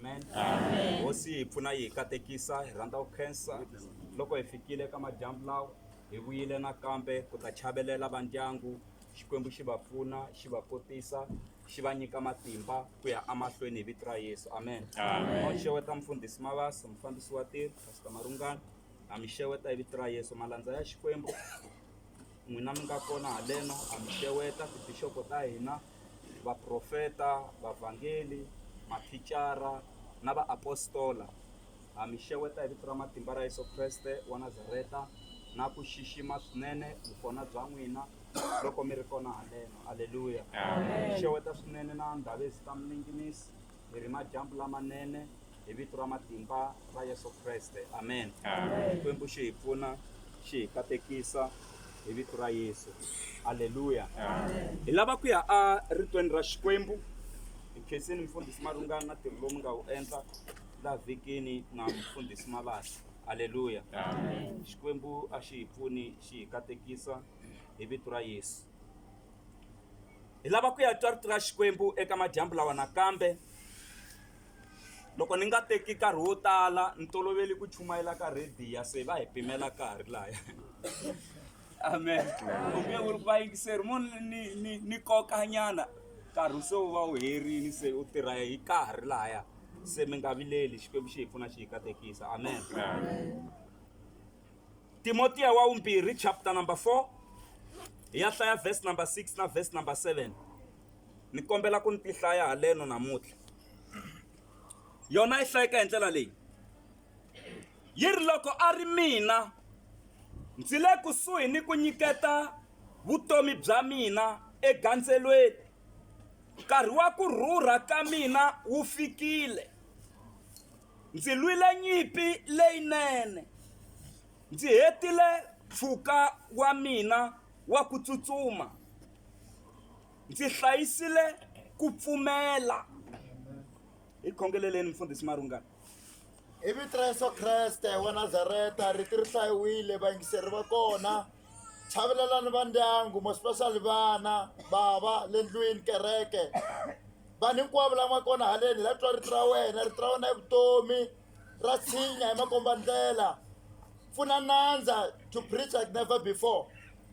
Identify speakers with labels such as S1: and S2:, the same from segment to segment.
S1: Amen. Amen. Hosi hi pfuna yi hi katekisa hi rhandza ku khensa loko hi fikile ka madyambu lawa hi vuyile nakambe ku ta chavelela va ndyangu xikwembu xi va pfuna xi va kotisa xi va nyika matimba ku ya amahlweni hi vito ra yesu amen Amen. ma xeweta mfundhisi mavasa mufambisi wa tirho pastor marungana ha mi xeweta hi vito ra yesu malandza ya xikwembu n'wina mi nga kona haleno ha mi xeweta tibixopo ta hina vaprofeta vavhangeli mathicara na vaapostola ha mi xeweta hi vito ra matimba ra yesu kreste wa nazareta na ku xixima swinene vukona bya n'wina loko mi ri kona haleno aleluya xeweta swinene na ndhavezitamininginisi hi ri madyambu lamanene hi vito ra matimba ra yesu kreste amen xikwembu xi hi pfuna xi hi katekisa hi vito ra yesu halleluya hi lava ku ya eritweni ra xikwembu hi khensini mfundhisi malungana na ntirho lowu mi nga wu endla la vhikini na mfundhisi malasi halleluya xikwembu a xi hi pfuni xi hi katekisa hi vito ra yesu hi lava ku ya twa rito ra xikwembu eka madyambu lawa nakambe loko ni nga teki nkarhi wo tala ni tolovele ku chumayela ka rhadiya se va hi pimela nkarhi laya amen kumbe u ri ku vayingiseri mo ni ni ni kokanyana nkarhi se wu va wu herini se u tirha hi nkarhi laya se mi nga vileli xikwembu xi hi pfuna xi hi katekisa amen timotiya wa vumbirhi chapter number four hi ya hlaya verse number six na verse number seven ni kombela ku ni ti hlaya haleno namuntlha yona yi hlayeka hi ndlela leyi yi ri loko a ri mina ndzi le kusuhi ni ku nyiketa vutomi bya mina egandzelweni nkarhi wa ku rhurha ka mina wu fikile ndzi lwile nyimpi leyinene ndzi hetile mpfhuka wa mina wa ku tsutsuma ndzi hlayisile ku pfumela hi khongeleleni mfundhisi marungana hi vito
S2: ra yesu kreste wa nazareta riti ri hlayiwile vayingiseri va kona chavelelani va ndyangu mospecially vana bava le ndlwini kereke vanhu hinkwavo la nga kona haleni la twa rito ra wena rito ra wena i vutomi ra tshinya hi makombandlela pfuna nandza to preach like never before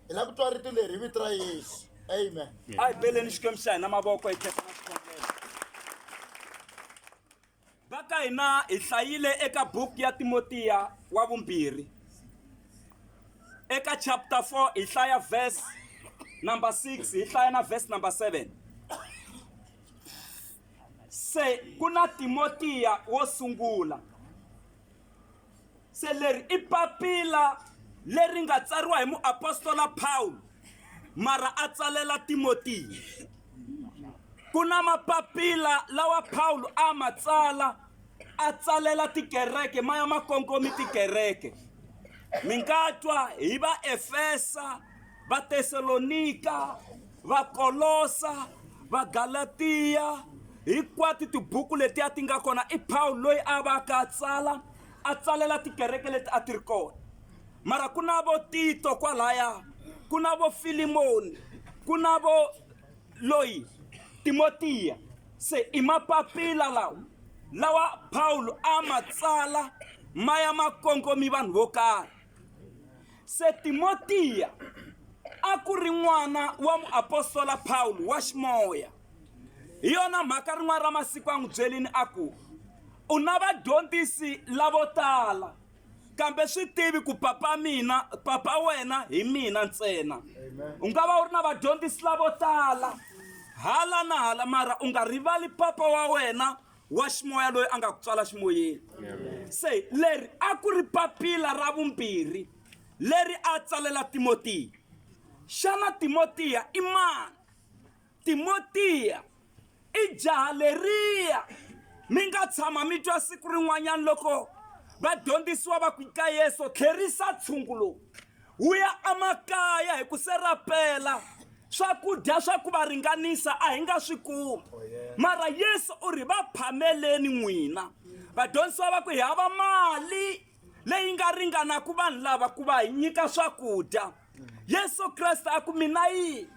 S2: hi lava ku twa rito leri hi vito ra yesu amen a hi beleni xikwembu
S1: xa hina mavoko hi khesa na xikhongelo va ka hina hi hlayile eka buku ya timotiya wa vumbirhi eka chapter 4 hi hlaya verse number 6 hi hlaya na verse number 7 se ku na timotiya wo sungula se leri i papila leri nga tsariwa hi muapostola pawulo mara a tsalela timotiya ku na mapapila lawa pawulo a ma tsala a tsalela tikereke ma ya ma kongomi tikereke mi nga twa hi vaefesa Vatesalonika, Vakolosa, Vagalatiya, hinkwato tibuku letiya ti nga kona i pawulo loyi a va ka a tsala a tsalela tikereke leti a ti ri kona mara ku na vo tito kwalaya ku na vo filimoni ku na vo loyi timotiya se i mapapila lawa lawa pawulo a ma tsala ma ya ma kongomi vanhu vo karhi se timotiya a ku ri n'wana wa muapostola pawulo wa ximoya hi yona mhaka rin'wana ra masiku a n'wi byelini a ku u na vadyondzisi lavo tala kambe swi tivi ku papa mina papa wena hi mina ntsena u nga va u ri na vadyondzisi lavo tala hala na hala mara u nga rivali papa wa wena wa ximoya loyi a nga ku tswala ximoyeni se leri a ku ri papila ra vumbirhi leri a tsalela timotiya xana timotiya i mani timotiya i jaha leriya mi nga tshama mi twa siku rin'wanyana loko vadyondzisiwa va ku ka yesu tlherisa tshungu lowu wu ya emakaya hi ku serapela swakudya swa ku va ringanisa a hi nga swi kumi oh, mara yesu u ri va phameleni n'wina vadyondzisiwa va ku hi hava mali leyi nga ringanaku vanhu lava ku va hi nyika swakudya mm. yesu kreste a ku mina yini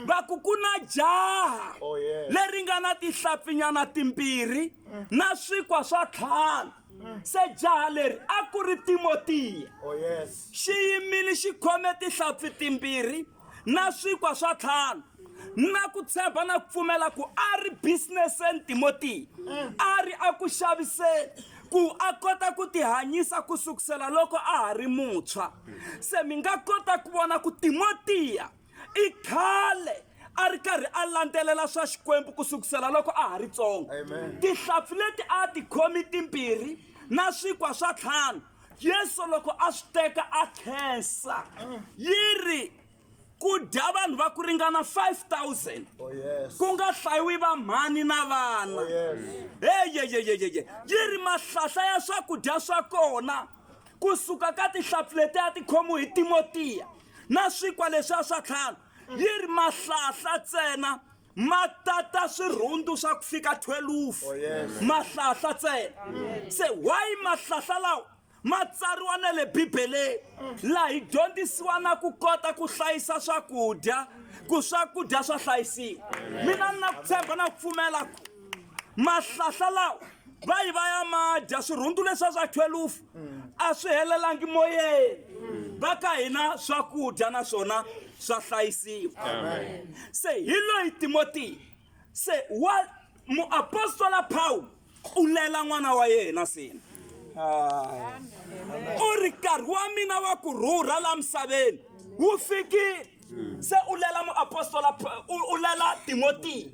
S1: va ku ku na jaha Oh, yeah. leri
S2: nga na
S1: tihlapfinyana timbirhi na swikwa swa tlhanu se jaha leri a ku ri timotiya Oh, yes.
S2: xi yimile
S1: xi khome tihlapfi timbirhi na swikwa swa tlhanu na ku tshemba na ku pfumela ku a ri businesseni timotiya a ri a ku xaviseni ku a kota ku tihanyisa ku sukusela loko a ha ri muntshwa se mi nga kota ku vona ku timotiya i khale a ri karhi a landzelela swa xikwembu ku sukusela loko a ha ri tsongo tihlampfi
S2: leti a
S1: ti khomi timbirhi na swikwa swa ntlhanu yesu loko a swi teka a khensa yi ri ku dya vanhu va ku ringana 5000 ku
S2: nga hlayiwi va
S1: mhani na vana
S2: eyeyeyeyeye
S1: yi ri mahlahla ya swakudya swa kona ku suka ka tihlampfi leti a ti khomiwe hi timotiya na swikwa leswiya swa tlhanu yi ri mahlahla ntsena ma tata swirhundu swa ku fika 12 oh, yes.
S2: mahlahla ntsena
S1: mm. se why mahlahla lawa ma tsariwa na le bibeleni mm. laha hi dyondzisiwa na ku kota ku hlayisa swakudya ku swakudya swa hlayisiwa mina ni na ku tshemba na ku pfumela ku mahlahla lawa va yi va ya ma dya swirhundu leswiya swa thwelufu a swi helelangi moyeni va ka hina swakudya na swona swa hlayisiwa se hi loyi timotiya se wa muapostola pawulo u lela n'wana wa yena sina u ri nkarhi wa mina wa ku rhurha la misaveni wu fikile mm. se u lela muapostola u lela timotiya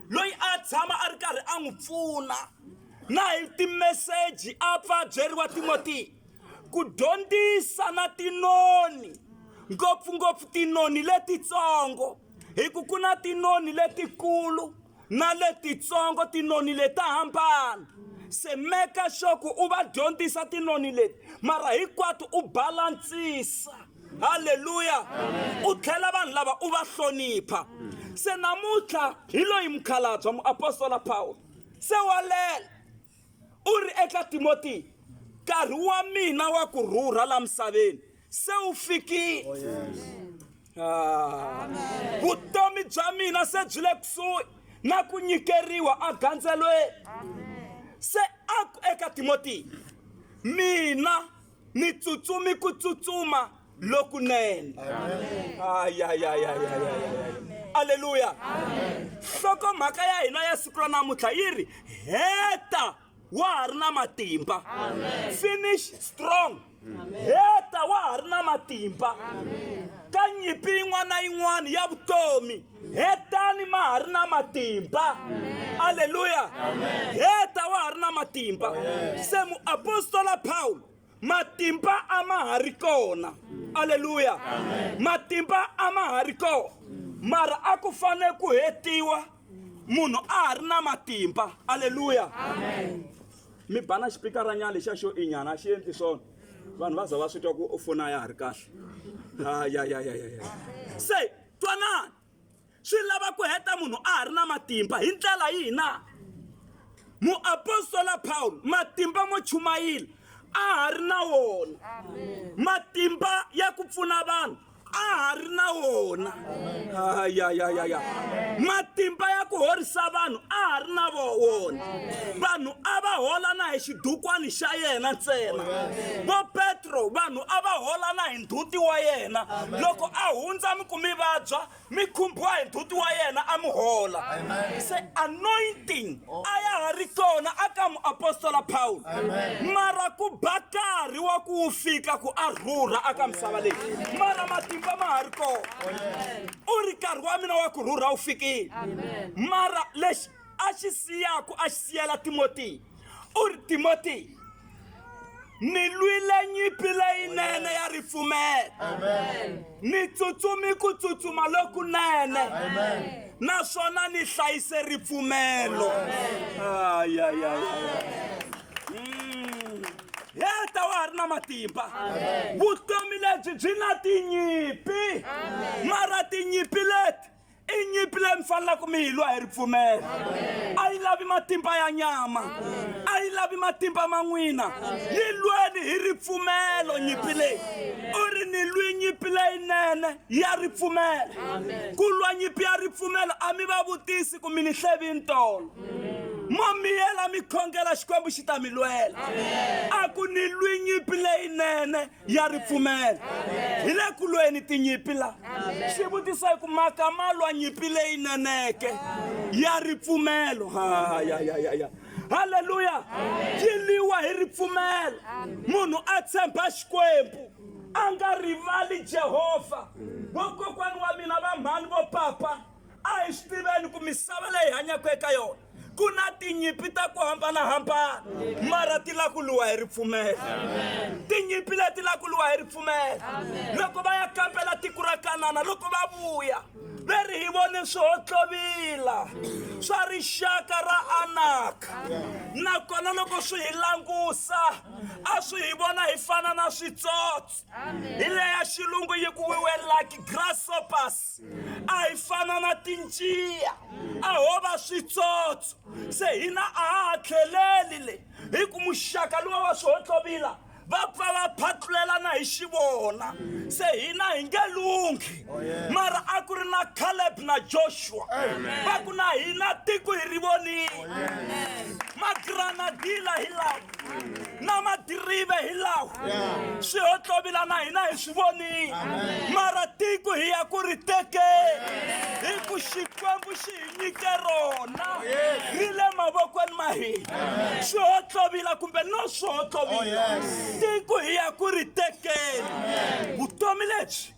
S1: loyi a tshama a ri karhi a n'wi pfuna na hi timeseji a pfa byeriwa timotiya ku dyondzisa na tinoni ngopfungopfu tinoni letitsongo hi ku ku na tinoni letikulu na letitsongo tinoni leta hambana se meka sure ku u va dyondzisa tinoni leti mara hinkwato u balantsisa halleluya u tlhela vanhu lava u va hlonipha se namuntlha hi loyi mukhalabya muapostola pawulo se wa lela u ri eka timotiya nkarhi wa mina wa ku rhurha la misaveni se wu fikile oh, yes. ah. vutomi bya mina se byi le kusuhi na ku nyikeriwa agandzelweni se a ku eka timotiya mina ni tsutsumi ku tsutsuma lokunene aleluya nhlokomhaka ya hina ya siku ra namuntlha yi ri heta wa ha ri na matimba finish strong heta wa ha ri na matimba ka nyimpi yin'wana na yin'wana ya vutomi hetani ma ha ri na matimba aleluya heta wa ha ri na matimba se muapostola pawulo matimba a ma ha ri kona aleluya matimba a ma ha ri kona mara a ku fanele ku hetiwa munhu a ha ri na matimba aleluya mi bana xipikaranyana lexa xo inyana a xi endli swona vanhu va za va swi twa ku u fona ya ha ri kahle ha ya ya ya ya ya se twanani swi lava ku heta munhu a ha ri na matimba hi ndlela yihi na muapostola pawulo matimba mo chumayila a ha ri na wona matimba ya ku pfuna vanhu a ha ri na wona ayayayaya matimba ya ku horisa vanhu a ha ri na wona vanhu a va hola na hi xidukwani xa yena ntsena vo petro vanhu a va hola na hi ndhuti wa yena loko a hundza mi ku mi vabya mi khumbiwa hi ndzhuti wa yena a mi hola se anointing a ya ha ri kona aka muapostola pawulo mara ku ba karhi wa ku wu fika ku a rhurha aka misava leyi mara matimba ma ha ri kona u ri nkarhi wa mina wa ku rhurha wu fikile mara lexi a xi siyaku a xi siyela timotiya u ri timoteyi ni lwile nyimpi leyinene ya ripfumelo ni tsutsumi ku tsutsuma lokunene naswona ni hlayise ripfumelo mm. heta wa ha ri na matimba vutomi lebyi byi na tinyimpi mara tinyimpi leti i nyimpi leyi mi fanelaka mi yi lwa hi ripfumelo a yi lavi matimba ya nyama a yi lavi matimba ma n'wina yi lweni hi ripfumelo nyimpi leyi u ri ni lwi nyimpi leyinene ya ripfumelo ku lwa nyimpi ya ripfumelo a mi va vutisi ku mi ni hlevi ntolo mo miyela mi khongela xikwembu xi ta mi lwela a ku ni lwi nyimpi leyinene ya ripfumelo hi le ku lweni tinyimpi la xivutiso hi ku maka ma lwa nyimpi leyi neneke ya ripfumelo ha ya ya ya ya haleluya yi liwa hi ripfumelo munhu a tshemba xikwembu a nga rivali jehovha vokokwani wa mina va mhani vo papa a hi swi tiveni ku misava leyi hanyaka eka yona ku na tinyimpi ta ku hambanahambana mara ti la ku luwa hi ripfumelo tinyimpi leti la ku luwa hi ripfumelo loko va ya kambela tiko ra kanana loko va vuya ve ri hi vone swihotlhovila swa rixaka ra anaka nakona loko swi hi langusa a swi hi vona hi fana na switsotso hi leya xilungu yi ku we were like grasshoppers a hi fana na tinjiya a ho va switsotso se hina a ha ha tlheleli le hi ku muxaka luwa wa swihohlovila va pfa va phatlulelana hi xivona se hina hi nge lunghi mara a ku ri na caleb na joshua va ku na hina tiko hi ri vonile magranadila hi lawa na madirive hi lawa swi hotlovila na hina hi swi vonile mara tiko hi ya ku ri teke hi ku xikwembu xi hi nyike rona ri le mavokweni ma hina swi hotlovila kumbe no swi hotlovila tiko hi ya ku ri tekeni vutomi lebyi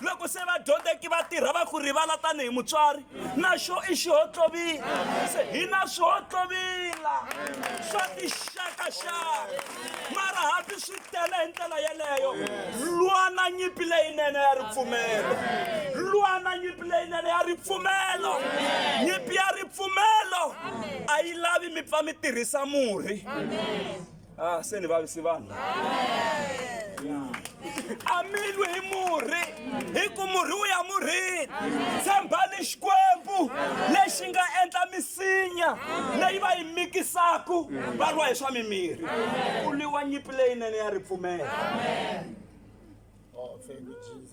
S1: loko se vadyondzeki va tirha va ku rivala tanihi mutswari na xo i xihohlovila se hi na swihohlovila swa tixakaxaka mara hambi swi tele hi ndlela yeleyo lwana nyimpi leyinene ya ripfumelo lwana nyimpi leyinene ya ripfumelo nyimpi ya ripfumelo a yi lavi mi pfa mi tirhisa murhi Ah, se ni vavisi vanhu a mi lwi hi murhi hi ku murhi wu ya murhini tshembani xikwembu lexi nga endla misinya leyi va yi mikisaku va lwa hi swa mimirhi ku lwiwa nyipi leyinene ya ripfumela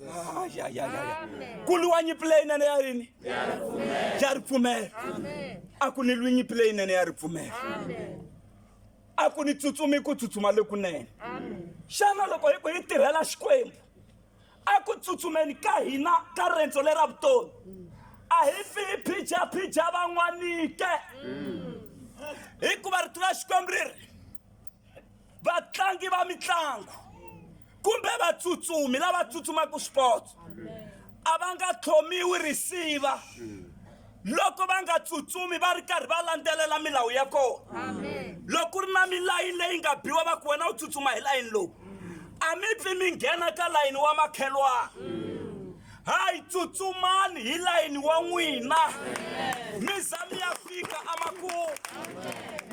S1: Ah, ya, ya, ya, ya. ku lwiwa nyipi leyinene ya yini ya ripfumela a ku ni lwi nyipi leyinene ya ripfumela a ku ni tsutsumi ku tsutsuma lokunene xana loko hi ku hi tirhela xikwembu a ku tsutsumeni ka hina ka rendzo lera vutomi a hi fi hi phijaphija van'wanike hikuva rito ra xikwembu ri ri vatlangi va mitlangu kumbe vatsutsumi lava tsutsumaka sport a va nga tlhomiwi risiva loko va nga tsutsumi va ri karhi va landzelela milawu ya kona loko ku ri na milayini leyi nga biwa va ku wena u tsutsuma hi layini lowu a mi pfi mi nghena ka layini wa makhelwana hayi tsutsumani hi layini wa n'wina mi za mi ya fika amakumu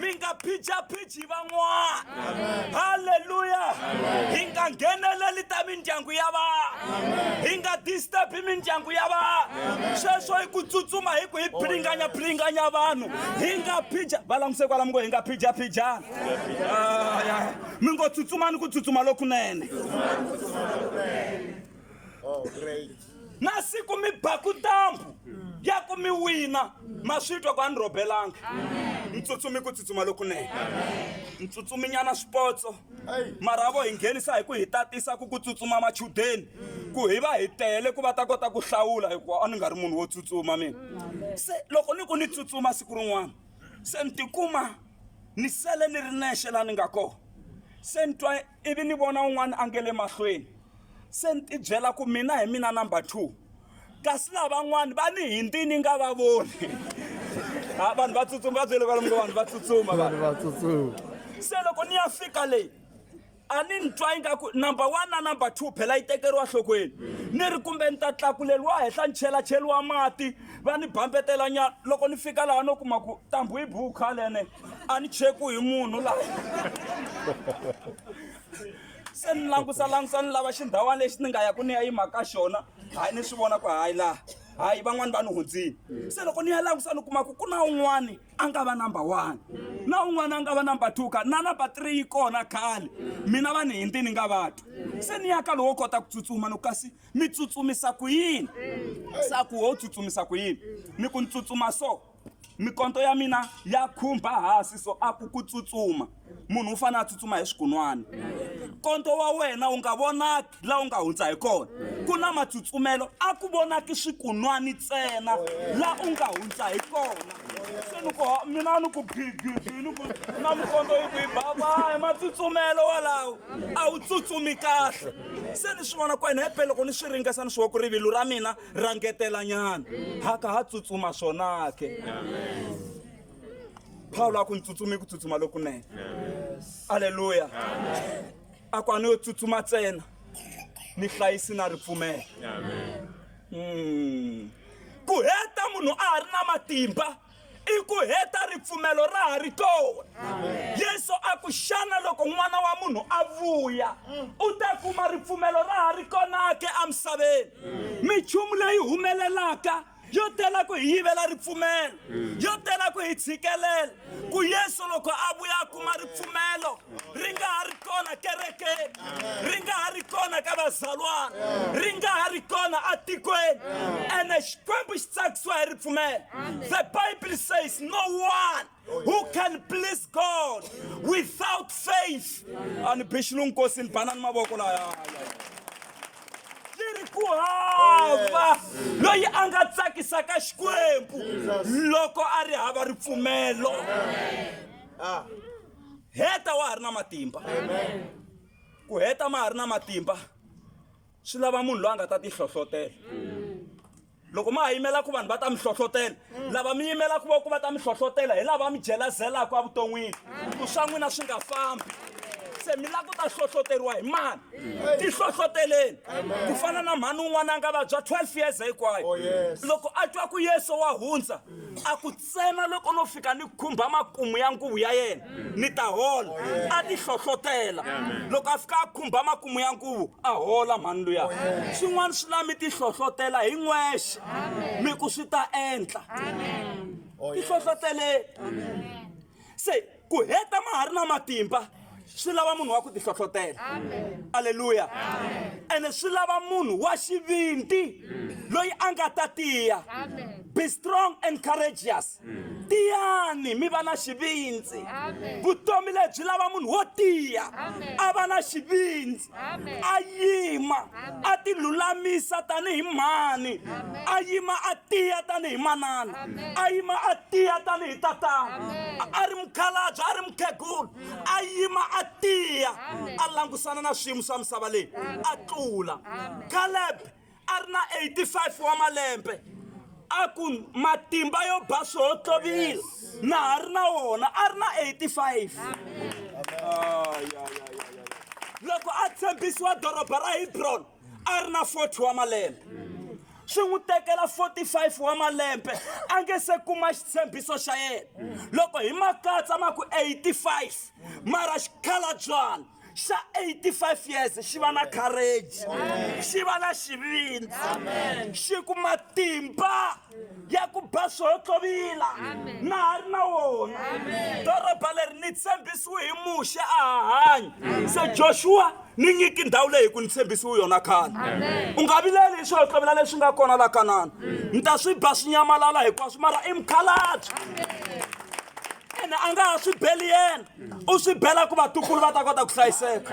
S1: mi nga phijaphiji van'wana halleluya hi nga ngheneleli ta mindyangu ya vanhu hi nga disturbi mindyangu ya vanhu sweswo hi ku tsutsuma hi ku hi philinganya philinganya vanhu hi nga phija va languse kwalamu ngo hi nga phijaphijana mi ngo tsutsumani ku tsutsuma lokunene Oh, great. na siku mi baku ntambu ya ku mi wina ma swi twa ku a ni rhobelanga ntsutsumi ku tsutsuma lokunene ntsutsuminyana swipotso Hey. marhavo hi nghenisa hi ku hi tatisa ku ku tsutsuma machudeni ku hi va hi tele ku va ta kota ku hlawula hikuva a ni nga ri munhu wo tsutsuma mina se loko ni ku ni tsutsuma siku rin'wana se ni tikuma ni sele ni ri nexe laha ni nga kona se ni twa ivi ni vona un'wana a nge le mahlweni se ni tibyela ku mina hi mina number two kasi lavan'wana va ni hindi ni nga va voni ha vanhu va tsutsuma
S3: va
S1: byele kwalomu ka vanhu va tsutsuma vanhu va tsutsuma se loko ni ya
S3: fika
S1: leyi a ni ni twa ingaku number one na number two phela yi tekeriwa nhlokweni ni ri kumbe ni ta tlakuleriwa henhla ni chelacheliwa mati va ni bambetela nyana loko ni fika laha no kuma ku ntambu yi bukha lene a ni cheku hi munhu la se ni langusa langusa ni lava xindhawana lexi ni nga ya ku ni ya yima ka xona hayi ni swi vona ku hayi laha hayi van'wani va ni hundzini se loko ni ya langusa ni kuma ku ku na un'wani a nga va number one na un'wani a nga va number two ka na number three yi kona khale mina va ni hindi ni nga vati se ni ya ka lowo kota ku tsutsuma ni kasi mi tsutsumisa ku yini sa ku wo tsutsumisa ku yini ni ku ni tsutsuma so mikonto ya mina ya khumba hasi so a ku ku tsutsuma munhu u fanele a tsutsuma hi swigunwana konto wa wena wu nga vonaki laha u nga hundza hi kona ku na matsutsumelo a ku vonaki swikunwani ntsena laha u nga hundza hi kona se ni ku mina ni ku gigigi ni ku na mukonto yi ku yi babayi matsutsumelo walawo a wu tsutsumi kahle se ni swi vona ku ene hepe loko ni swi ringesa ni swi wa ku rivilo ra mina ra ngetelanyana haka ha tsutsuma swona ke pawulo a ku ni tsutsumi ku tsutsuma lokunene aleluya a ku a ni yo tsutsuma ntsena ni hlayisi na ripfumelo Mm. ku heta munhu a ha ri na matimba i ku heta ripfumelo ra ha ri kona yesu a ku xana loko n'wana wa munhu a vuya u ta kuma ripfumelo ra ha ri kona ke emisaveni minchumu leyi humelelaka yo tela ku hi yivela ripfumelo yo tela ku hi tshikelela ku yesu loko a vuya a kuma ripfumelo ri nga ha ri kona kerekeni ri nga ha ri kona ka vazalwana ri nga ha ri kona atikweni ene xikwembu xi tsakisiwa hi ripfumelo the bible says no one who can please god without faith ani bixilungu nkosi ni banani mavoko laya ri ku hava loyi a nga tsakisaka xikwembu loko a ri hava ripfumelo ah. heta wa ha ri na matimba ku heta ma ha ri na matimba swi lava munhu loyi a nga ta tihlohlotela loko ma ha yimela ku vanhu va ta mi hlohlotela lava mi yimela ku va ku va ta mi hlohlotela hi lava mi jelazelaka evuton'wini ku swa n'wina swi nga fambi se mi lava ku ta hlohloteriwa hi mani ti hlohloteleni ku fana na mhani un'wana a nga vabya 12 years hinkwayo loko a twa ku yesu wa hundza a ku ntsena loko no fika ni khumba makumu ya nguvu ya yena ni ta hola a ti hlohlotela loko a fika a khumba makumu ya nguvu a hola mhani luya swin'wana swi la mi ti hlohlotela hi n'wexe mi ku swi ta endla ti hlohloteleni se ku heta ma ha ri na matimba swi lava munhu wa ku tihlohlotela aleluya ene swi lava munhu wa xivindi loyi a nga ta tiya be strong and courageous tiyani mi va na xivindzi vutomi lebyi lava munhu wo tiya a va na xivindzi a yima a ti lulamisa tanihi mhani a yima a tiya tanihi manana a yima a tiya tanihi tatana a ri mukhalabye a ri mukhegulu a yima a tiya a langusana na swiyimo swa misava leyi a tlula kalebe a ri na 85 wa malembe a ku matimba yo ba swihotlovila na ha ri na wona a ri na 85 loko a tshembisiwa doroba ra hebroni a ri na 40 wa malembe swi n'wi tekela 45 wa malembe a nge se kuma xitshembiso xa yena loko hi makatsa ma ku 85 mara xikhalabyana xa 85 years xi va na courage xi va na xivindzi xi ku matimba ya ku ba swohotlovila na ha ri na wona doroba leri ni tshembisiwe hi muxe a hahanya se joshua ni nyiki ndhawu leyi ku ni tshembisiwe yona khale u nga vileli hi swohotlovila leswi nga kona la kanana ni ta swi ba swi nyamalala hinkwaswo mara i mukhalabye ene a nga ha swi beli yena u swi bela ku vatukulu va ta kota ku hlayiseka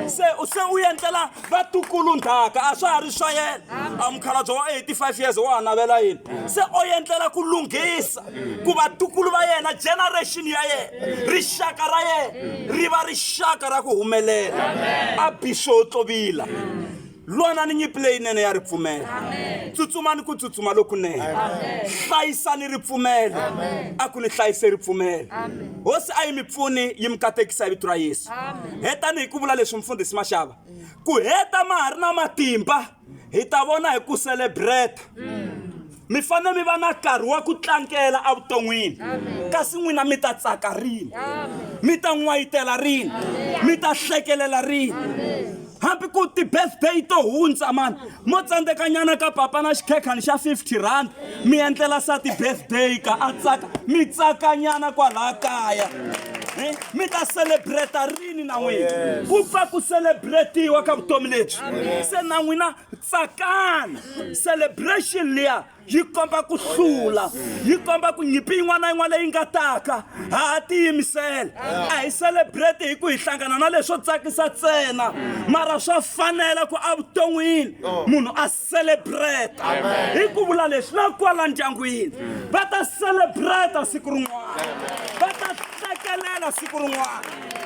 S1: se se u endlela vatukulu ndhaka a swa ha ri swa yena a mukhalabye wa 85 years wa ha navela yini se o endlela ku lunghisa ku vatukulu va yena generation ya yena rixaka ra yena ri va rixaka ra ku humelela a bixo tlobila lwanani nyimpi leyinene ya ripfumelo tsutsumani ku tsutsuma lokunene hlayisani ripfumelo a ku ni hlayise ripfumelo hosi a yi mi pfuni yi mi katekisa hi vito ra yesu hetani hi ku vula leswi mfundhisi maxava ku heta ma ha ri na matimba hi ta vona hi ku celebrate mi fanele mi va na nkarhi wa ku tlangela evuton'wini kasi n'wina mi ta tsaka rini mi ta n'wayitela rini mi ta hlekelela rini hambi ku ti-birthday to hundza mani mo tsandzekanyana ka papa na xikhekhani xa 50 rand mi endlela sa ti-birthday ka a tsaka mi tsakanyana kwalaha kaya eh, mi ta celebrata rini na n'wina ku pfa ku celebratiwa ka vutomi lebyi se na n'wina tsakani celebration liya yi komba ku hlula yi komba ku nyimpi yin'wana na yin'wana leyi nga taka ha ha tiyimisela a hi celebrate hi ku hi hlangana na leswo tsakisa ntsena mara swa fanela ku evuton'wini munhu a celebrate hi ku vula leswi na kwala ndyangwini va ta celebrate siku rin'wana va ta tsekelela siku rin'wana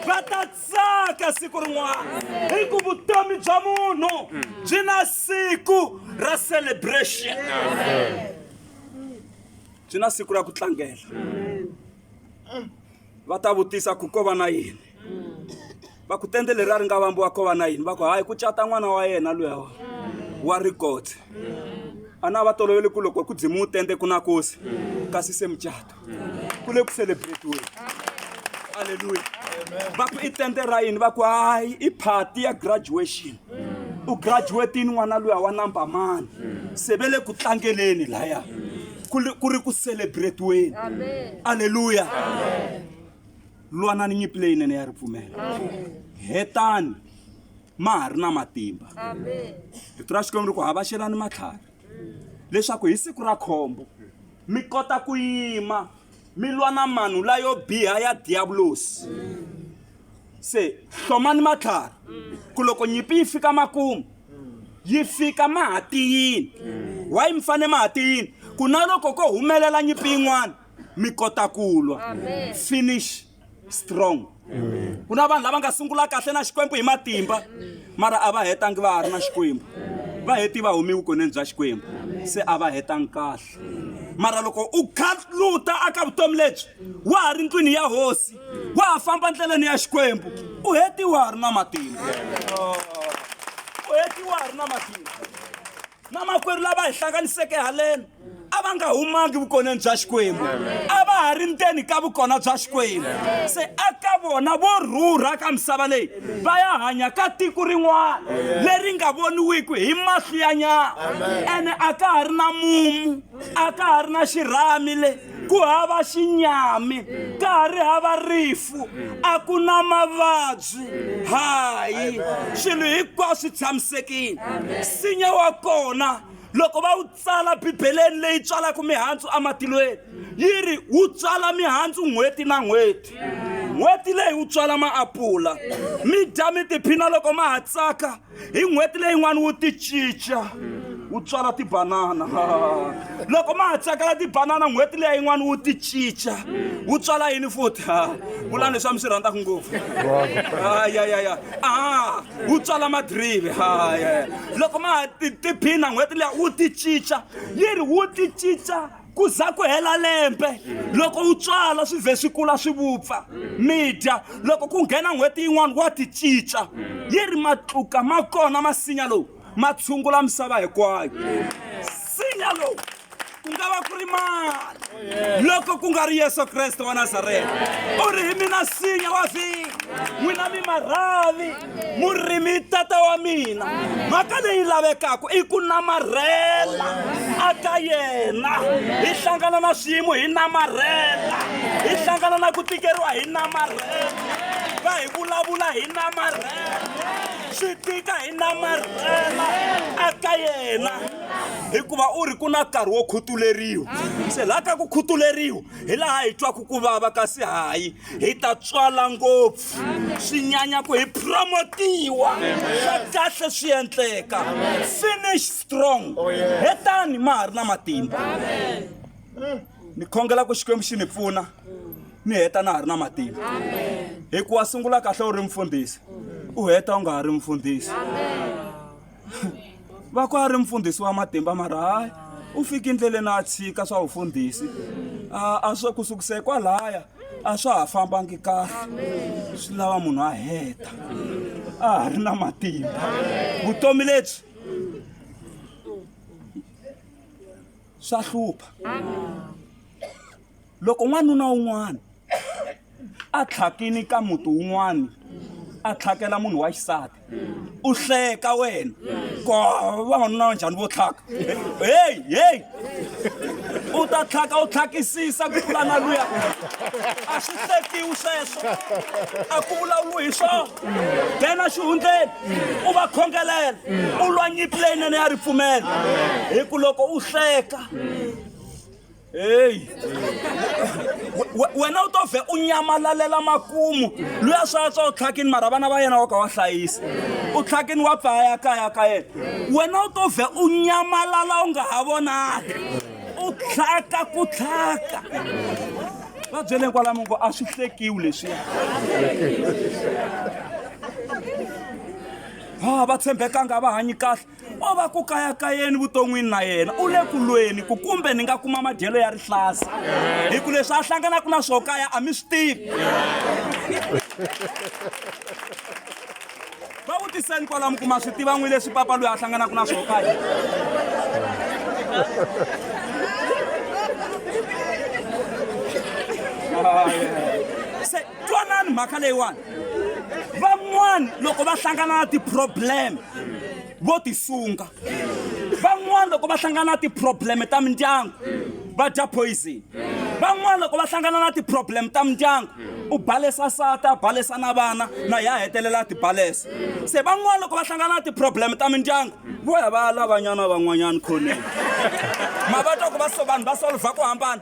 S1: va ta tsaka siku rin'wana hi ku vutomi bya munhu byi na siku ra celebration byi na siku ra ku tlangela va ta vutisa ku ko va na yini va ku tende leri a ri nga vambiwa ko va na yini va ku hayi ku cata n'wana wa yena luya wa wa rikoti a na va toloveli ku loko ku dzimiwu tende ku na kosi kasi se mucato ku le ku celebratiweni aleluya va ku i tende ra yini va ku hayi i party ya graduation u graduatini n'wana luya wa number mani se ve le ku tlangeleni laya ku ri- ku ri ku celebratiweni aleluya lwanani nyimpi leyinene ya ripfumela hetani ma ha ri na matimba rito ra xikwembu ri ku havaxelani matlhari leswaku hi siku ra khombo mi kota ku yima mi lwa na manhu layo biha ya diyavulosi se hlomani matlhari ku loko nyimpi yi fika makumu yi fika mahatiyini wayi mi fane mahatiyini ku na loko ko humelela nyimpi yin'wana mi kota ku lwa finish strong ku na vanhu lava nga sungula kahle na xikwembu hi matimba mara a va hetangi va ha ri na xikwembu va heti va humi vukoneni bya xikwembu se a va hetangi kahle mara loko u khaluta aka vutomi lebyi wa ha ri ndlwini ya hosi wa ha famba ndleleni ya xikwembu u heti wa ha ri na matimba u heti wa ha ri na matimba na makwerhu lava hi hlanganiseke haleni a va nga humangi vukoneni bya xikwembu a va ha ri ndzeni ka vukona bya xikwembu se aka vona vo rhurha ka misava leyi va ya hanya ka tiko rin'wana leri nga voniwiki hi mahlo ya nyama ene a ka ha ri na mumu a ka ha ri na xirhami le ku hava xinyami ka ha ri hava rifu a ku na mavabyi hayi swilo hinkwaswo swi tshamisekile nsinya wa kona loko va wu tsala bibeleni leyi tswalaka mihandzu ematilweni yi ri wu tswala mihandzu n'hweti na n'hweti n'hweti leyi wu tswala maapula mi dya mi tiphina loko ma ha tsaka hi n'hweti leyin'wana wu ti cinca wu tswala tibanana loko ma ha tsakela tibanana n'hweti leya yin'wana wu ti cinca wu tswala yini futhi vulani leswi a mi swi rhandzaka ngopfu ayayaya a wu tswala madrive haye loko ma ha tiphina n'hweti leya wu ti cinca yi ri wu ti cinca ku za ku hela lembe loko wu tswala swi vhe swi kula swi vupfa mi dya loko ku nghena n'hweti yin'wana wa ti cinca yi ri matluka ma kona masinya lowu ma tshungula misava hinkwayo sinya lowu ku nga va ku ri mani loko ku nga ri yesu kreste wa nazareta u ri hi mina sinya wa vhiki n'wina mi marhavi murimi tata wa mina mhaka leyi lavekaka i ku namarhela aka yena hi hlangana na swiyimo hi namarhela hi hlangana na ku tikeriwa hi namarhela va hi vulavula hi namarhela swi tika hi namarhela aka yena hikuva u ri ku na nkarhi wo khutuleriwa se laha ka ku khutuleriwa hi laha hi twaku ku vava kasi hayi hi ta tswala ngopfu swi nyanya ku hi promotiwa swa kahle swi endleka finish strong oh, hetani ma ha ri na matimba ni khongela ku xikwembu xi ni pfuna ni heta na ha ri na matimba hikuva sungula kahle u ri mfundhisi u heta u nga ha ri mfundhisi va ku a ri mfundhisi wa matimba mara hayi u fike endleleni a tshika swa vufundhisi a swo ku sukise kwalaya a swa ha fambangi kahle swi lava munhu a heta a ha ri na matimba vutomi lebyi swa hlupha loko n'wanuna un'wana a tlhakini ka muti wun'wana a tlhakela munhu wa xisati u hleka wena ko vavanuna va njhani vo tlhaka heyi heyi u ta tlhaka u tlhakisisa ku tlula na luya a swi hlekiwi sweswo a ku vulavuriwi hi swona nghena xihundleni u va khongelela u lwa nyimpi leyinene ya ripfumelo hi ku loko u hleka heyi wena u to vhe u nyamalalela makumu loyi a swa tswa u tlhakini mara vana va yena wa ka wa hlayisa u tlhakini wa pfaya ya kaya ka yena wena u to vhe u nyamalala u nga ha vonaki u tlhaka ku tlhaka va byele kwalamo ku a swi hlekiwi leswiya ha va tshembekanga va hanyi kahle o va ku kayakayeni vuton'wini na yena u le ku lweni ku kumbe ni nga kuma madyelo ya rihlasi hi ku leswi a hlanganaka na swo kaya a mi swi tivi va vutiseni kwalamu ku ma swi tiva n'wi leswi papa loyi a hlanganaka na swo kaya Ah, yeah. twanani mhaka leyiwani van'wani loko va hlangana na ti-problem vo tisunga van'wani loko va hlangana na ti-problem ta mindyangu va dya poison van'wani loko va hlangana na ti-problem ta mindyangu u balesa sata a balesa na vana na ya hetelela a ti balesa se van'wani loko va hlangana na ti-problem ta mindyangu vo ya va lavanyana van'wanyana khoneni ma va twa ku va so vanhu va solva ku hambana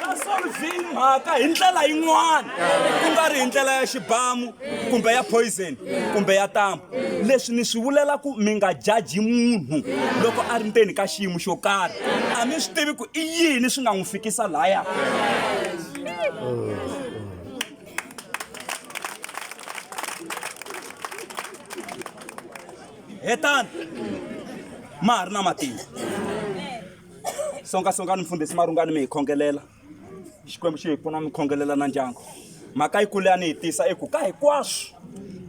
S1: va solving mhaka hi ndlela yin'wana ku nga ri hi ndlela ya xibamu kumbe ya poison kumbe ya tambu leswi ni swi vulela ku mi nga jaji munhu loko a ri ndzeni ka xiyimo xo karhi a mi swi tivi ku i yini swi nga n'wi fikisa laya hetani ma ha ri na matimba songa songani mfundhisi marungani mi hi khongelela xikwembu xi hi pfuna mi khongelela na ndyangu mhaka yi kule a ni yi tisa i ku ka hinkwaswo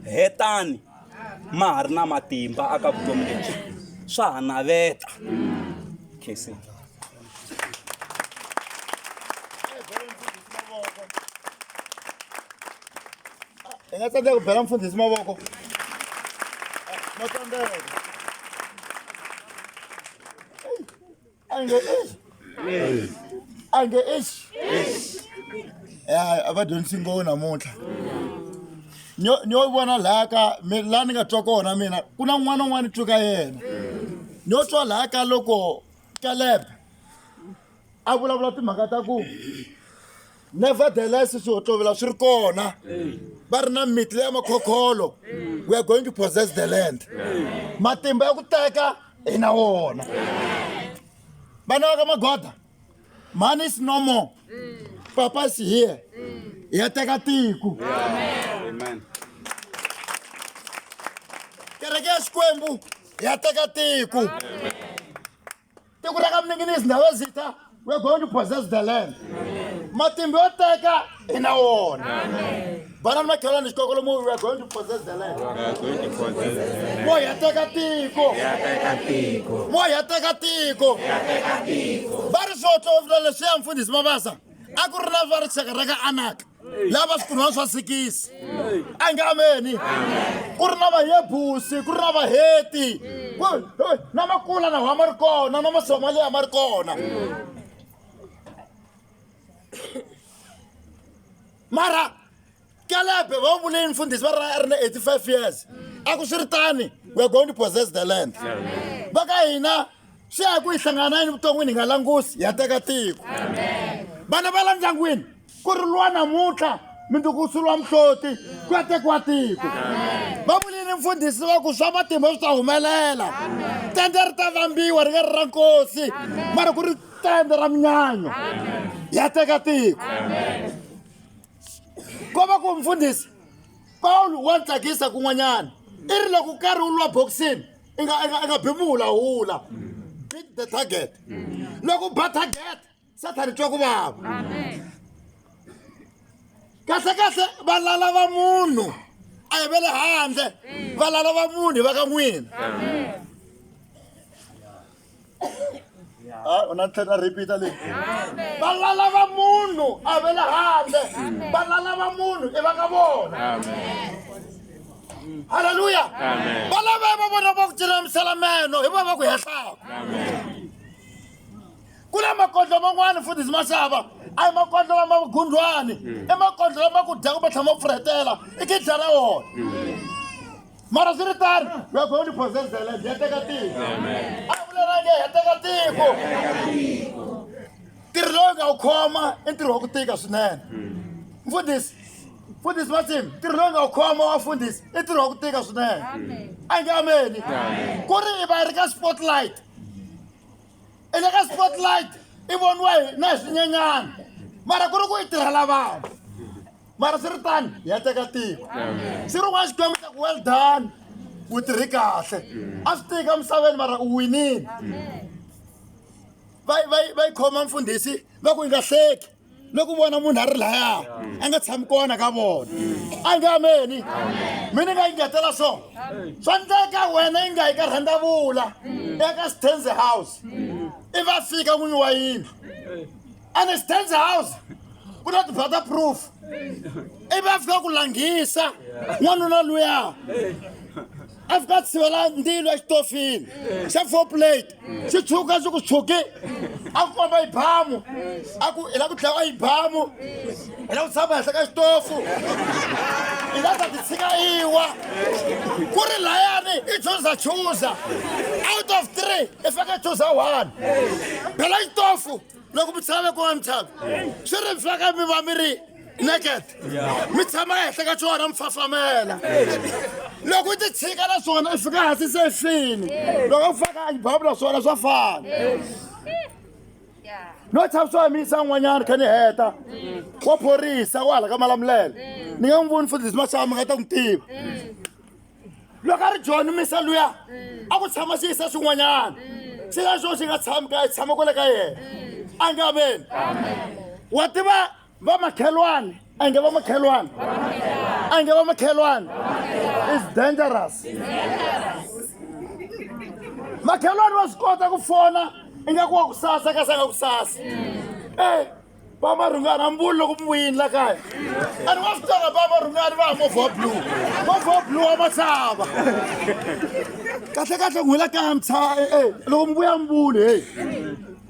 S1: hetani ma ha ri na matimba aka vutomi lebyi swa ha naveta khesini
S2: hi nga tsandzeka ku bela mfundhisi mavoko ma tsandzeka ange eish ya a va dyondzisi nghovo namuntlha nyo nyo vona laha ka mi laha ni nga twa kona mina ku na n'wana un'wana ni twi ka yena nyo twa laha ka loko kalebe a vulavula timhaka ta ku nevertheless swihohlovela swi ri kona va ri na miti leya makhokholo we are going to possess the land matimba ya ku teka hi na wona vana va ka magoda money is no more papa is here ya teka tiko kereke ya xikwembu ya teka tiko tiko ra ka minginisi ndhawu ya zita we're going to possess the land matimba yo teka i na wona vana ni makhelwani xikoko lomu we're going to possess the land mo hi ya teka tiko mo hi ya teka tiko va ri swo tlovula leswiya mfundhisi mavasa a ku ri na va ri xaka ra ka anaka lava swikunwana swa sikisi a nge ameni ku ri na vayebusi ku ri na vaheti na makula na wa ma ri kona na masomaliya ma ri kona mara kelebe va vuleni mfundhisi va ri a ri na 85 years a ku swi ri tani weare going to possess the land va ka hina swi ya hi ku hi hlangana yini vuton'wini hi nga langusi hi ya teka tiko vana va la ndyangwini ku ri lwa namuntlha minduku swi lwa muhloti ku ya tekiwa tiko va vuli ni mfundhisi wa ku swa matimba swi ta humelela tende ri ta vambiwa ri nga ri ra nkosi mara ku ri tende ra minyanyo ya teka tiko ko va ku mfundhisi pawulo wa tsakisa kun'wanyana i ri loko karhi wu lwa boxini i nga i nga i nga bi muhulahula beat the target loko u ba target sathani twa ku vava kahlekahle valala va munhu a hi ve le handle valala va munhu va ka n'wina u na tlhela repeat le va lala va munhu a ve le handle va lala va munhu i va ka vona halleluya va lava va vona va ku tirhamisela meno hi va va ku hehlaka ku na makondlo man'wani futhi ndzi ma xava a hi makondlo lama gundlwani i makondlo lama ku dya kumbe tlhama pfuretela i kidla ra wona mara swi ri tani we are going to possess the land ya teka tiko a vulelange ya teka tiko ntirho lowu nga wu khoma i ntirho wa ku tika swinene mfundhisi mfundhisi masim ntirho lowu nga wu khoma wa mfundhisi i ntirho wa ku tika swinene a nge ameni ku ri i va ri ka spotlight i le ka spotlight i voniwa hi na hi swinyenyana mara ku ri ku yi tirhela vanhu mara swi ri tani hi ya teka tiko swi ri n'wana xikwembu xa ku well done u tirhi kahle a swi tiki emisaveni mara u winile va yi khoma mfundhisi va ku yi nga hleki ni ku vona munhu a ri laya a nga tshami kona ka vona a nge ameni mi ni nga yingetela swo swa ndleka wena yi nga yi ka rhandavula eka stanze house i va fika n'winyi wa yindlu and stanze house ku na tibata proof i va fika ku langhisa n'wanuna luya a fika a tshivela ndzilo exitofini xa four plate xi tshuka xi ku tshuki a ku komba yibamu a ku hi la ku dlawa yibamu hi la ku tshama henhla ka xitofu hi la ta ti tshika iwa ku ri layani i chuza chuza out of three i fake chuza one phela xitofu loko mi tshama mi kuma mithava swi ri mfaka mi va mi ri naked mi tshama ehenhla ka swona mi fafamela loko u ti tshika na swona i fika hansi se fini loko u faka ajibhabu na swona swa fana no tshama swi hamisa n'wanyana kha ni heta wa phorisa wa hala ka malamulele ni nga n'wi voni futhi leswi ma xava mi nga ta n'wi tiva loko a ri joni misa luya mm. a ku tshama swi yisa swin'wanyana mm. swi ya swo swi nga tshami ka tshama kwale ka yena mm. a nge ameni wa tiva vamakhelwane a nge vamakhelwane a nge vamakhelwane is dangerous makhelwane wa swi kota ku fona ingaku wa ku sasa ka sa nga ku sasa e Baba Rungani, I'm going to go in like I. And what's that about Rungani? I'm going for blue. Go for blue, I'm a saba. Kahle kahle ngwela ka mtsa eh eh loko mbuya mbule hey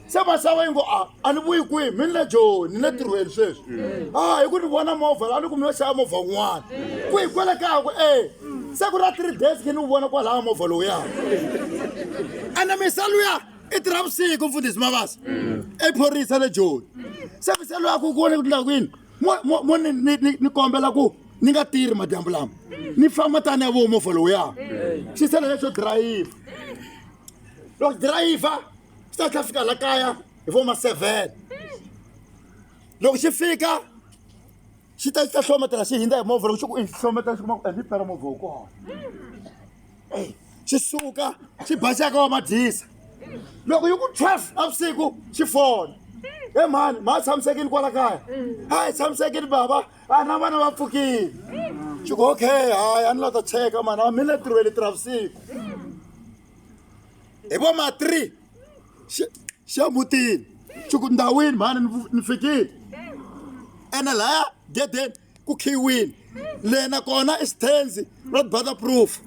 S2: se masava yingo a a ni vuyi kwihi mi ni le joni ni le tirhweni sweswi a hi ku ni vona movha la a ni kumi yo xava movha wun'wana ku hi kwele kaya ku e se ku ra three days ke ni wu vona kwalaya movha lowuyaka ene misa luya i tirha vusiku mfundhisi mavasa ephorisa le joni se mi se loyi a ku ku vone ku tindla kwini mo ni kombela ku ni nga tirhi madyambu lama ni famba tani ya vomo folowo ya xi sele lexo dirayivha loko dirayivha xi ta tlha fika la kaya hi vo ma seven loko xi fika xi ta xi ta hlometela xi hindza hi movha loko xi ku i xi hlometela xi kuma ku endli pera movha wu kona eyi xi suka xi basaka wa madyisa loko yi ku twelve navusiku xi fona he mhani ma tshamisekile kwala kaya a hi tshamisekile baba a na vana va pfukile xi ku okay hayi a ni la ta cheka mani a mi le tirhweni tirha vusiku hi vo ma three Xe- xe mutini swi ku ndhawini mhani ni vu- ni fikile ene laya gedeni ku khiyiwile le nakona i xithenzi red butter proof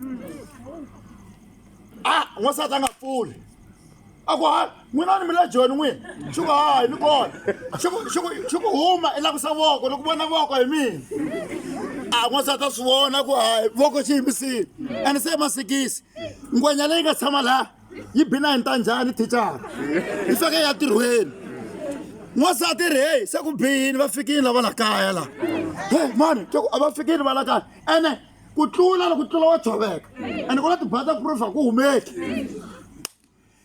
S2: a n'wansati a nga pfuli a ku hayi n'wina ni mi le joni n'wina swi ku hayi ni kona swi ku- swi ku- swi ku huma i lakusa voko loko vona voko hi mina a n'wansati a swi vona ku hayi voko xi yimisile ene se i masikisi ngwenya leyi nga tshama laha yi bina hi nta njhani thicara yi feke ya tirhweni n'wansati ri heyi se ku biyini va fikini lava la kaya la he mani ke ku a va fikini va la kaya ene ku tlula loko tlula wa tshoveka ene ku na tibata proof a ku humeki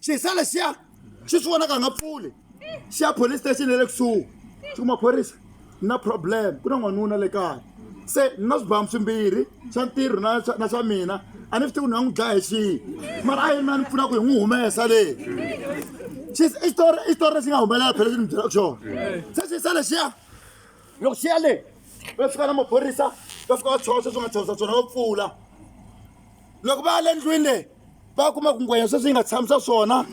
S2: xisa lexiya xi swi vonaka nga pfuli xa police station ya le kusuhi swi ku maphorisa ni na problem ku na n'wanuna le kaya se ni na swibamu swimbirhi swa ntirho na swa- na swa mina a ni swi tivi ku ni nga n'wi dlaya hi xihi mara a yi na ni pfuna ku hi n'wi humesa le Xis- i xitori i xitori lexi nga humelela phela lexi ni byelaka xona se xi sa lexiya loko xi ya le va fika na maphorisa va fika va tshosa swi nga tshosa swona va pfula loko va ya le ndlwini leyi va kuma ku ngwenya sweswi yi nga tshami swa swona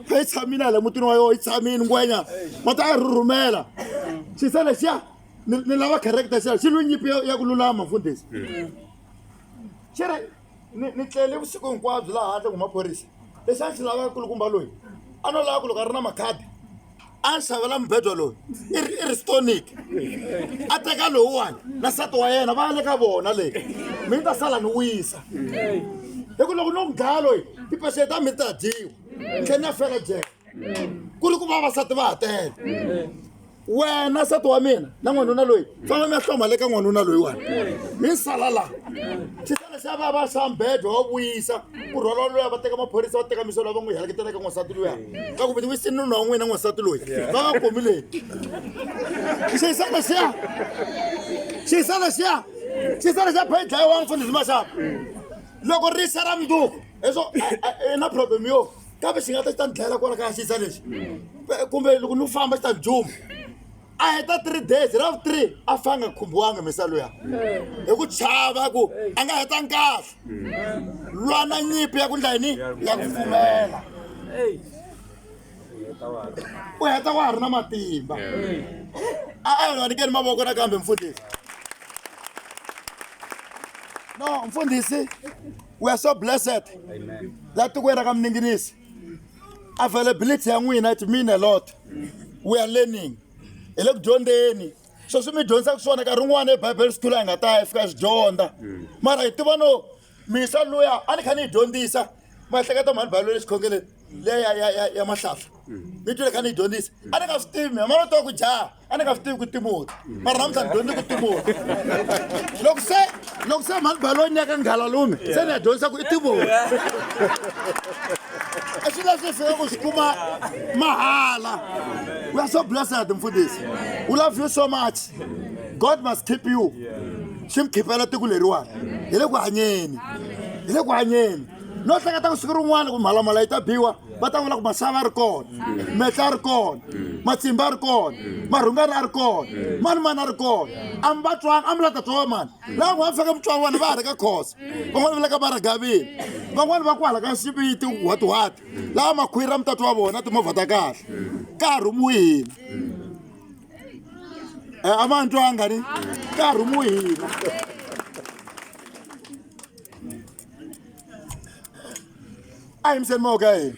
S2: kha yi tshamile le mutini wa yoho yi tshamile ngwenya ma ta yi rhurhumela xi se lexiya ni lava character xi xi lwi nyipi ya ku lulama mfundhisi xi ri ni tlele vusiku hinkwabyo laha handle ku maphorisa lexi a xi lava kulukumba loyi a no lava ku loko a ri na makhadi a xavela mubedwa loyi i ri i ri stonic a teka lowuwani na nsati wa yena va ya le ka vona leyi mi ni ta sala ni wisa hi ku loko no n'wi dlaya loyi tipaxele ta mi ni ta dyiwa ni tlhe ni ya fela jele ku ri ku vavasati va ha tele wena nsati wa mina na n'wanuna loyi twana mi ya hloma le ka n'wanuna loyiwani mi sala laha xisana xa va va xa mbhedwa wa vuyisa ku rhwala luya va teka maphorisa va teka miso lava n'wi heleketela ka n'wansati luya ka ku viti wisini nuna wa n'wina n'wansati loyi va va komi leyi xisana xiya xisana xiya xisana xa phe dlayiwa mfundhisi maxava loko ri xa ra minduku hi swo i na problem yo kambe xi nga ta xi ta ni dlayela kwala kaya xisa lexi kumbe loko ni famba xi ta ni juma a heta three days ra vu three a fa nga khumbiwanga misa luya hi ku chava ku a nga heta nkafa lwana nyipi ya ku ndla yini ya ku fumela u heta wa ha ri na matimba a a nga nikeni mavoko nakambe mfundhisi no mfundhisi we are so blessed la tikweni ra ka mininginisi availability ya n'wina it mean a lot we are learning hi le ku dyondzeni swo swi mi dyondzisaka swona nkarhi wun'wana ebible school a hi nga ta ya fika swi dyondza mara hi tiva no misa luya a ni kha ni yi dyondzisa maehleketa mhani bible lexikhongeleni leya ya mahlahla mi twile kha ni yi dyondzisa a ni nga swi tivi mi ma va twa ku jaha a ni nga swi tivi ku timoti mara namuntlha ni dyondze ku timoti loko se loko se mhani baloni ya ka nghalalume se ni ya dyondzisa ku i timoti i swi leswi hi fika ku swi kuma mahala we are so blessed mfundisi we love you so much god must keep you swi mi khiphela tiko leriwani hi le ku hanyeni hi le ku hanyeni no hleketa ku siku rin'wana ku mhalamhala yi ta biwa va ta vula ku masava a ri kona metla a ri kona matsimba a ri kona marhungani a ri kona mani mani a ri kona a mi va twanga a mi la ta twa wa mani laha n'wana fika mi twa vona va ha ri ka khosa van'wana va le ka maragavini van'wana va ku hala ka xiviti whatwhat laha makhwiri a mi ta twa vona timovha ta kahle ka ha rhumiwihina e a ma ni twanga ni ka ha rhumiwihina a hi mi se moka yini